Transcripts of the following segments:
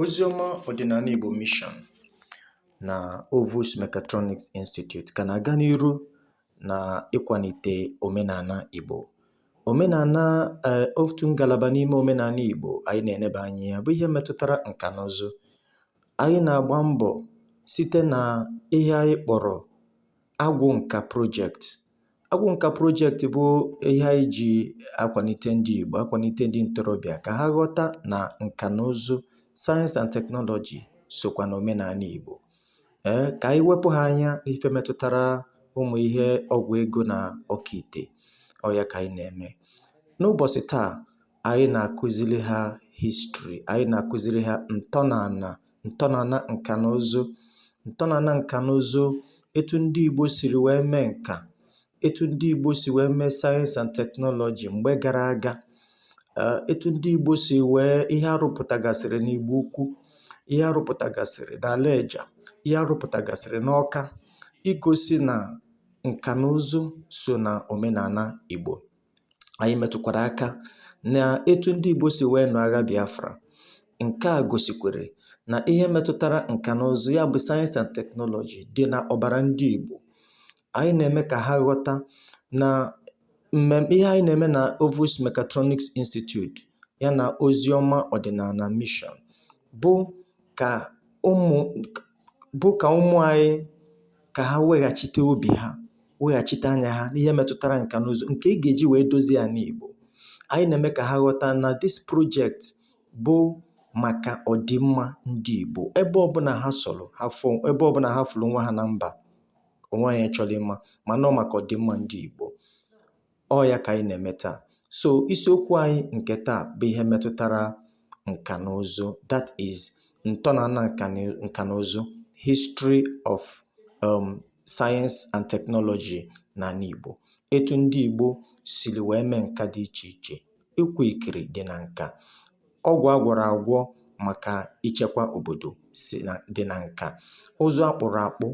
Oziọma ọdịnala Igbo Mission na Ovus Mechatronics Institute ka na-aga n'iru na ịkwalite omenala Igbo. Omenala eh, otu ngalaba n'ime omenala Igbo anyị na-eneba anya ya bụ ihe metụtara nka na ụzụ. Anyị na-agba mbọ site na ihe anyị kpọrọ agwụ nka project Agwụ nka project bụ ihe anyị ji akwalite ndị Igbo, akwalite ndị ntorobịa ka ha ghọta na nka na ụzụ, sayensị and teknọlọji sokwa na omenala Igbo. Ee, ka anyị wepụ ha anya n'ife metụtara ụmụ ihe ọgwụ ego na okeite. Ọ ya ka anyị na-eme. N'ụbọchị taa, anyị na-akụziri ha history anyị na-akụziri ha ntọnala ntọnala nka na ụzụ ntọnala nka na ụzụ etu ndị Igbo siri wee mee nka etu ndị Igbo si wee mee sayensị and teknọlọji mgbe gara aga eh, etu ndị Igbo si wee ihe a rụpụtagasịrị n'Igbo Ukwu ihe a rụpụtagasịrị na Lejja ihe a rụpụtagasịrị n'Ọka igosi na nka na ụzụ so na omenala Igbo anyị metụkwara aka na etu ndị Igbo si wee nụọ agha Biafra. Nke a gosikwere na ihe metụtara nka na ụzụ ya bụ sayensị and teknọlọji dị na ọbara ndị Igbo. Anyị na-eme ka ha ghọta na mmemme ihe anyị na-eme na Ovus Mechatronics Institute ya na Oziọma Ọdịnala Mission bụ ka ụmụ bụ ka ụmụ anyị ka ha weghachite obi ha weghachite anya ha n'ihe metụtara nka na ụzụ nke e ga-eji wee dozie ala Igbo anyị na-eme ka ha ghọta na this project bụ maka ọdịmma ndị Igbo ebe ọbụla ha sọrọ ha fụ ebe ọbụla ha fụrụ onwe ha na mba ụwa anyị achọrọ ịma mana ọ maka ọdịmma ndị Igbo ọ ya ka anyị na-eme taa so isiokwu anyị nke taa bụ ihe metụtara nka na ụzụ that is ntọala nka na ụzụ history of um, science and technology n'ala Igbo etu ndị Igbo siri wee mee nka dị iche iche ịkwa ikiri dị na nka ọgwụ a gwọrọ agwọ maka ichekwa obodo si na dị na nka ụzụ a kpụrụ akpụ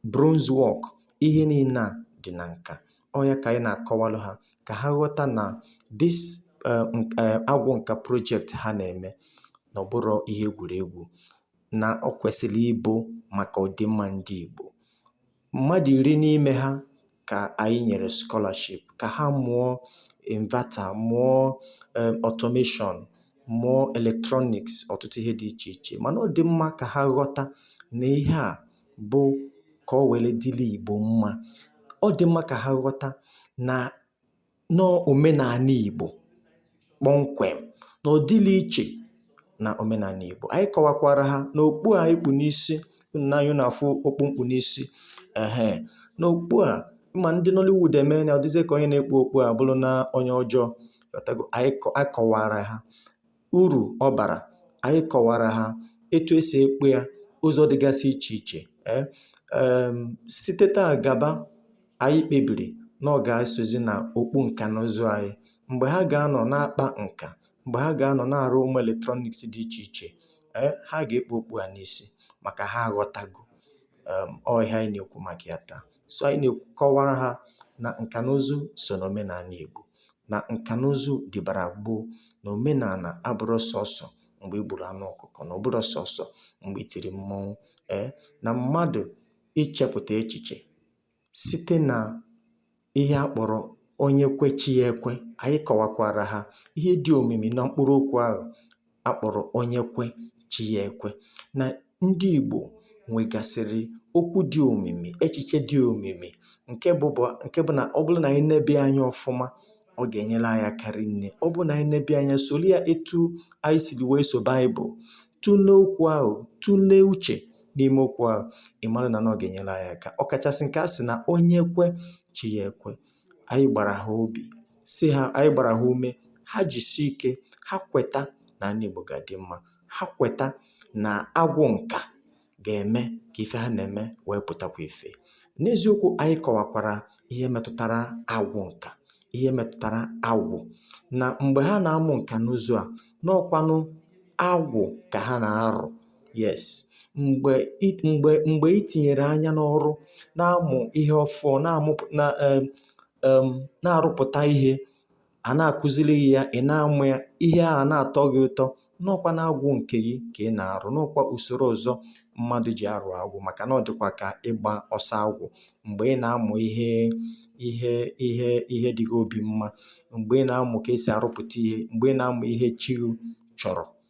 bronze work, ihe niile a dị na nka. Ọ ya ka anyị na-akọwalụ ha ka ha ghọta na this eh, nk- eh, agwụ nka project ha na-eme na ọ bụrọ ihe egwuregwu na ọ kwesịrị ịbụ maka ọdịmma ndị Igbo. Mmadụ iri n'ime ha ka anyị nyere scholarship ka ha mụọ inverter, mụọ eh, automation, mụọ electronics, ọtụtụ ihe dị iche iche. Mana ọ dị mma ka ha ghọta na ihe a bụ ka o were dịrị Igbo mma ọ dị mma ka ha ghọta na n'omenala Igbo kpọmkwem na ọ dịrị iche na omenala Igbo anyị kọwakwara ha na okpu anyị kpu n'isi na anyị na-afụ okpu m kpu n'isi ehe na okpu a ma ndị Nollywood emena ọ dịzie ka onye na-ekpu okpu a bụrụ na onye ọjọọ anyị kọwara ha urù ọ bàrà ànyị kọ̀wàrà ha etu e sì ekpu ya ụzọ̀ dịgasị ichè ichè e èèm site taa gàba ànyị kpebìrì na ọ gà esòzi nà òkpu ǹkà nà ụzụ anyị m̀gbè ha gà-anọ̀ na-akpà ǹkà m̀gbè ha gà-anọ̀ na-àrụ ụmụ̀ electronics dị ichè ichè e ha gà-ekpu okpu à n'isi màkà ha aghọtago um ọ ihe anyị na-ekwu maka ya taa so anyị na-akọwara ha na nka na ụzụ so na omenala Igbo na nka na ụzụ dịbara gboo na omenala abụrọ sọsọ mgbe e gburu anụ ọkụkọ na ọ bụrọ sọsọ mgbe e tiri mmọnwụ ee eh, na mmadụ ichepụta echiche site na ihe a kpọrọ onye kwe chi ya ekwe anyị kọwakwara ha ihe dị omimi na mkpụrụ okwu ahụ a kpọ̀rọ̀ onye kwe chi ya ekwe nà ndị ìgbò nwègàsị̀rị̀ okwu dị òmìmì echìche dị òmìmì ǹke bụ bụ̀ ǹke bụ nà ọ bụrụ nà ànyị nebe anya ọ̀fụma ọ gà-ènyere anyị aka rinne ọ bụrụ nà ànyị nebe anya sòrò ya etu anyị sìrì wèe sò bible tụlee okwu ahụ̀ tụlee uchè n'ime okwu ahụ̀ ị̀ mara nà nà ọ gà-ènyere anyị aka ọ kàchàsị̀ ǹkè a sị̀ nà onye kwe chi ya ekwe anyị gbara ha obi sị ha anyị gbara ha ume ha jisie ike ha kweta na anị Igbo ga-adị mma ha kweta na agwụ nka ga-eme ka ife ha na-eme wee pụtakwa ife n'eziokwu anyị kọwakwara ihe metụtara agwụ nka ihe metụtara agwụ na mgbe ha na-amụ nka na ụzụ a na ọ kwanụ agwụ ka ha na-arụ Yes. Mgbe i mgbe mgbe i tinyere anya n'ọrụ, na-amụ ihe ọfụụ, na-amụpụ na um um na-arụpụta ihe, a na-akụziri gị ya, ị na-amụ ya, ihe ahụ a na-atọ gị ụtọ, na ọ kwa na agwụ nke gị ka ị na-arụ, na ọ kwa usoro ọzọ mmadụ ji arụ agwụ maka na ọ dịkwa ka ịgba ọsọ agwụ. Mgbe ị na-amụ ihe ihe ihe ihe dị gị obi mma, mgbe ị na-amụ ka e si arụpụta ihe, mgbe ị na-amụ ihe chi gị chọrọ,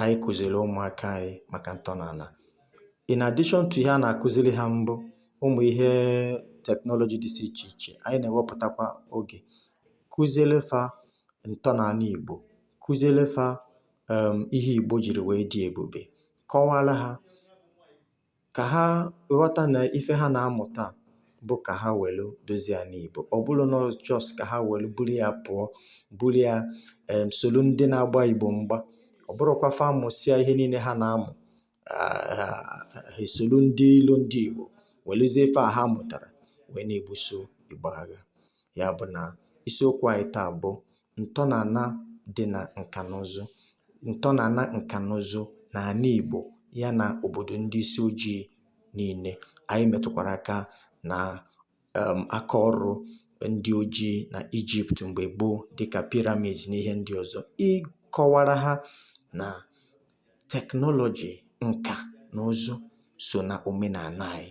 anyị kụziri ụmụaka anyị maka ntọala in addition to ihe a na-akụziri ha mbụ ụmụ ihe teknọlọji dịsị iche iche anyị na-ewepụtakwa oge kụziere fa ntọala Igbo kụziere fa um, ihe Igbo jiri wee dị ebube kọwara ha ka ha ghọta na ife ha na-amụta bụ ka ha welu dozie ana Igbo ọ bụrụ na just ka ha welu buru ya pụọ buru ya em solu ndị na-agba Igbo mgba ọ bụrụkwa fa mụsịa ihe niile ha na-amụ ha esolu ndị ilo ndị Igbo weluzie ife a ha mụtara wee na-ebuso Igbo agha ya bụ na isiokwu anyị taa bụ ǹtọnàna dị nà ǹkànụzụ ǹtọnàna ǹkànụzụ nà àna ìgbò ya nà òbòdò ndị isi ojii niilė ànyị mètùkwàrà aka nà um aka ọrụ ndị ojii nà egypt m̀gbè gboo dịkà pyramid nà ihe ndị ọ̀zọ ịkọwara ha nà technology ǹkà nà ụzụ so nà òmenàna ànyị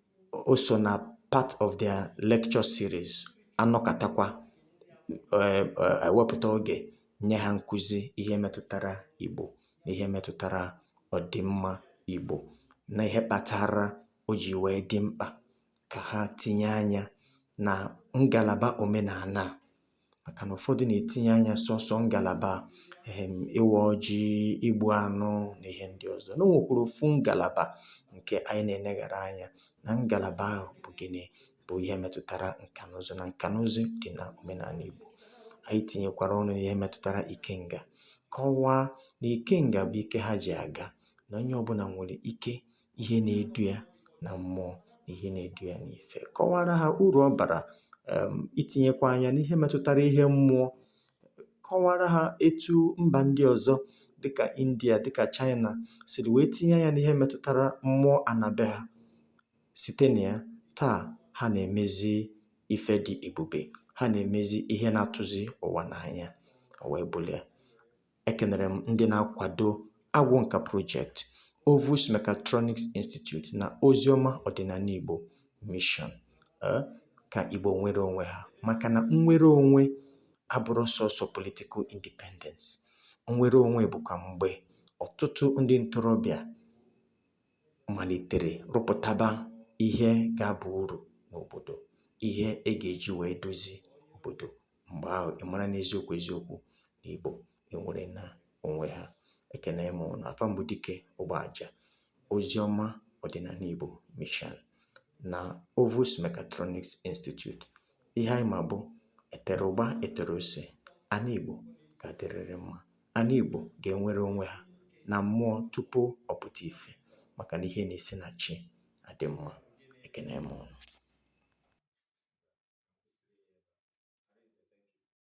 o so na part of their lecture series a nọkatakwa eh, eh, e wepụta oge nye ha nkụzi ihe metụtara Igbo na ihe metụtara ọdịmma Igbo na ihe kpatara o ji wee dị mkpa ka ha tinye anya na ngalaba omenana màkà nà ụ̀fọdụ nà-ètinye anyȧ sọsọ ngàlàbà um ịwȧ ọjị, ịgbụ̇ anụ nà ihe ndị ọ̀zọ, nà o nwèkwàrà òfu ngàlàbà ǹkè anyị nà-èneghàra anyȧ nà ngàlàbà ahụ̀ bụ̀ gịnị bụ̀ ihe metụtara ǹkà n'ụzụ nà ǹkà n'ụzụ dị̀ nà òmenànà ìgbò, ànyị tìnyèkwàrà ọnụ̇ n'ihe metụtara ikengà kọwaa nà ikengà bụ̀ ike ha jì àga nà onye ọbụnà nwèrè ike ihe na-edu ya na mmụọ na ihe na-edu ya n'ife kọwara ha uru ọ bara um itinyekwa anya n'ihe metụtara ihe mmụọ kọwara ha etu mba ndị ọzọ dịka India dịka China siri wee tinye anya n'ihe metụtara mmụọ ana be ha site na ya taa ha na-emezi ife dị ebube ha na-emezi ihe na-atụzi ụwa n'anya o wee bụrụ ya Ekenere m ndị na-akwado Agwụ Nka Project, Ovus Mechatronics Institute na Oziọma Ọdịnana Igbo Mission eh, ka Igbo nwere onwe ha maka na nnwere onwe abụrụ sọsọ political independence. Nnwere onwe bụkwa mgbe ọtụtụ ndị ntorobịa malitere rụpụtaba ihe ga-aba uru n'obodo, ihe e ga-eji wee dozie obodo. Mgbe ahụ, ị mara n'eziokwu eziokwu na Igbo enwerena onwe ha. Ekene m ụnụ. Afa m bụ Dike Ụgbọaja. Oziọma Ọdịnana Igbo Mission na Ovus Mechatronics Institute. Ihe anyị ma bụ e tere ụgba e tere ose. Ana Igbo ga-adịrịrị mma. Ana Igbo ga-enwere onwe ha na mmụọ tupu ọ pụta ife maka na ihe na-esi na chi adị mma. Ekene m ụnụ.